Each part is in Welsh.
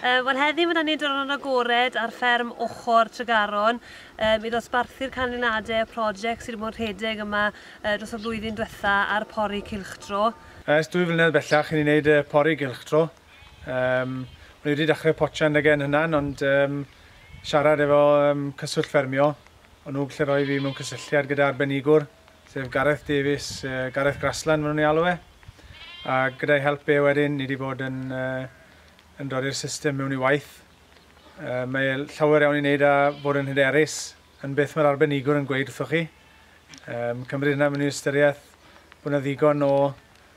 Uh, Wel heddi mae yna ni diwrnod agored ar fferm ochr Tregaron um, i ddosbarthu'r canlyniadau y prosiect sydd wedi bod yn rhedeg yma uh, dros y flwyddyn diwetha ar pori cilchdro. Ers dwy flynedd bellach i ni wneud uh, pori cilchdro. Um, Rwy wedi dechrau potiau yn yn hynna'n ond um, siarad efo um, cyswllt ffermio Yn uwch lle roedd hi mewn cysylltiad gyda arbenigwr, sef Gareth Davies, Gareth Grassland maen nhw'n ei alw e, a gyda'i help e wedyn ni wedi bod yn yn dod i'r system mewn i waith. Mae e llawer iawn i wneud â bod yn hyderus yn beth mae'r arbenigwr yn gweud wrthoch chi. Cymryd hynna mewn i ystyriaeth bod yna ddigon o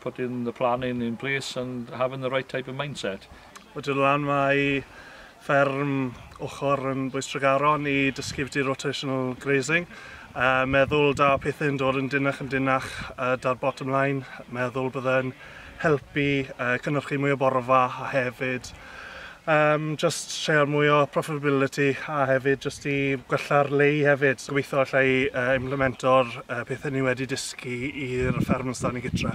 putting the plan in in place and having the right type of mindset. O Dŵr y Lan mae fferm ochr yn Bwystregaron i dysgu byti rotational grazing. Uh, meddwl da pethau'n dod yn dynach yn dynach uh, da'r bottom line. Meddwl byddai'n helpu uh, cynnyrchu mwy o borfa a hefyd Yym jyst treial mwy o profitability a hefyd jyst i gwella'r lay hefyd. Gobeithio alla i yy implemento'r yy pethe ni wedi dysgu i'r fferm yn Stani gytre.